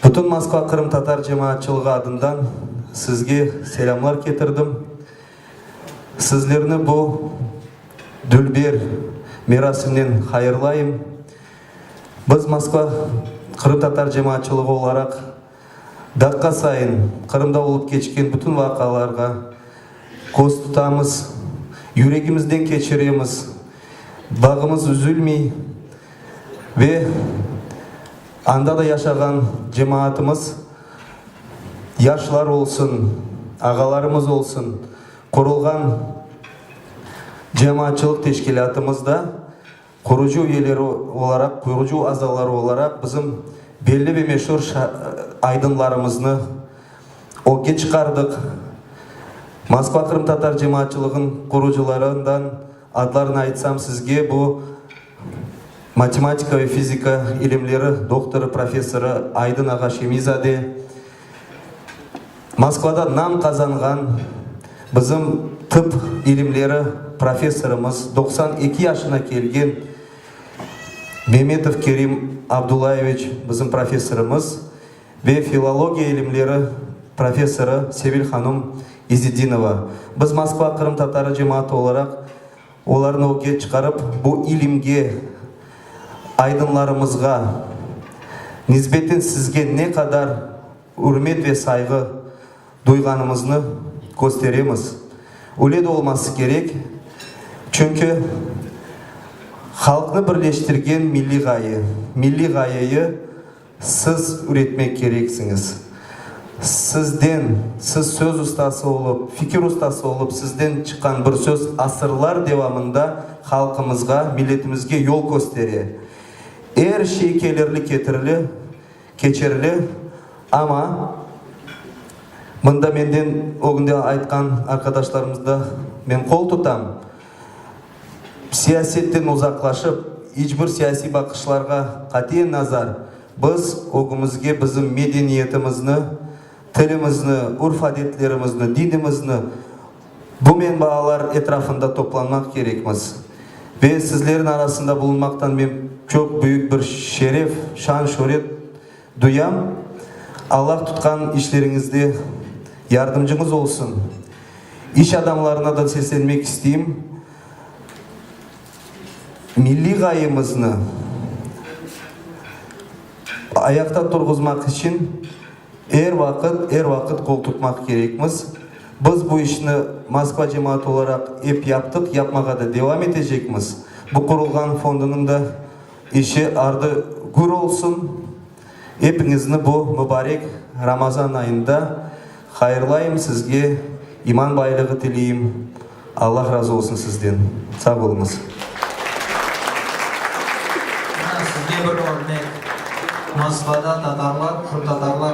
Bütün Moskva qırımtatar cemaatçılığı adından sizge selâmlar ketirdim. Sizlerni bu dülber merasimnen hayırlayım. Biz Moskva qırıtatar cemaatçılığı olaraq daqqa sayın Qırımda olıp keçken bütün vaqialarğa köz tutamız, yüregimizden keçiremiz, bağımız üzülmey. Ve anda da yaşağan cemaatımız, yaşlar olsun, ağalarımız olsun, qurulğan cemaatçılıq teşkilâtımız da qurucı üyeleri olaraq, qurucı azaları olaraq bizim belli ve meşur aydınlarımıznı ögge çıqardıq. Moskva qırımtatar cemaatçılığın qurucılarından, Adlarını aytsam sizge, bu, matematika ve fizika ilimleri doktorı, professorı Aydın ağa Şemiyzade, Moskvada nam qazanğan bizim tıp ilimleri professorımız, doqsan eki yaşına kelgen Memetov Kerim Abdullayeviç bizim professorımız ve filologiya ilimleri professorı Sevil hanım İzzetdinova, biz Moskva qırımtatarı cemaatı olaraq olarnı ögge çıqarıp, bu ilimge, aydınlarımızğa nisbeten sizge ne qadar ürmet ve sayğı duyğanımıznı kösteremiz. Öyle de olması kerek, çünki halqnı birleştirgen milliy ğaye, milliy ğayeyı, Siz üretmek kereksiñiz. Sizden, siz söz ustası olıp, fikir ustası olıp, sizden çıqqan bir söz asırlar devamında halqımızğa, milletimizge yol köstere. Er şey kelirli ketirili, keçerli, amma mında menden ögünde aytqan arqadaşlarımızda men qol tutam, Siyasetten uzaqlaşıp, iç bir siyasiy baqışlarğa qatiyen nazar, biz ögümizge bizim medeniyetimizni, tilimizni, ürf-adetlerimizni, dinimizni, bu menbaalar etrafında toplanmaq kerekmiz. Ve sizlerin arasında bulunmaqtan men çoq büyük bir şeref, şan-şöret Duyam, Allah tutqan işleriñizde yardımcıñız olsun. İş adamlarınadan seslenmek isteyim, milliy ğayemizni ayaqta turğuzmaq içün er vaqıt, er vaqıt qoltutmaq kerekmiz. Biz bu işni Moskva cemaatı olaraq ep yaptıq, yapmağa da devam etecekmiz. Bu qurulğan fondunıñ da, İşi ardı gür olsun. Epiñizni bu mubarek Ramazan ayında hayırlayım, sizge iman baylığı tileyim. Allah razı olsun sizden. Sağ oluñız. Mana sizge bir örnek. Moskvada tatarlar, qırımtatarlar.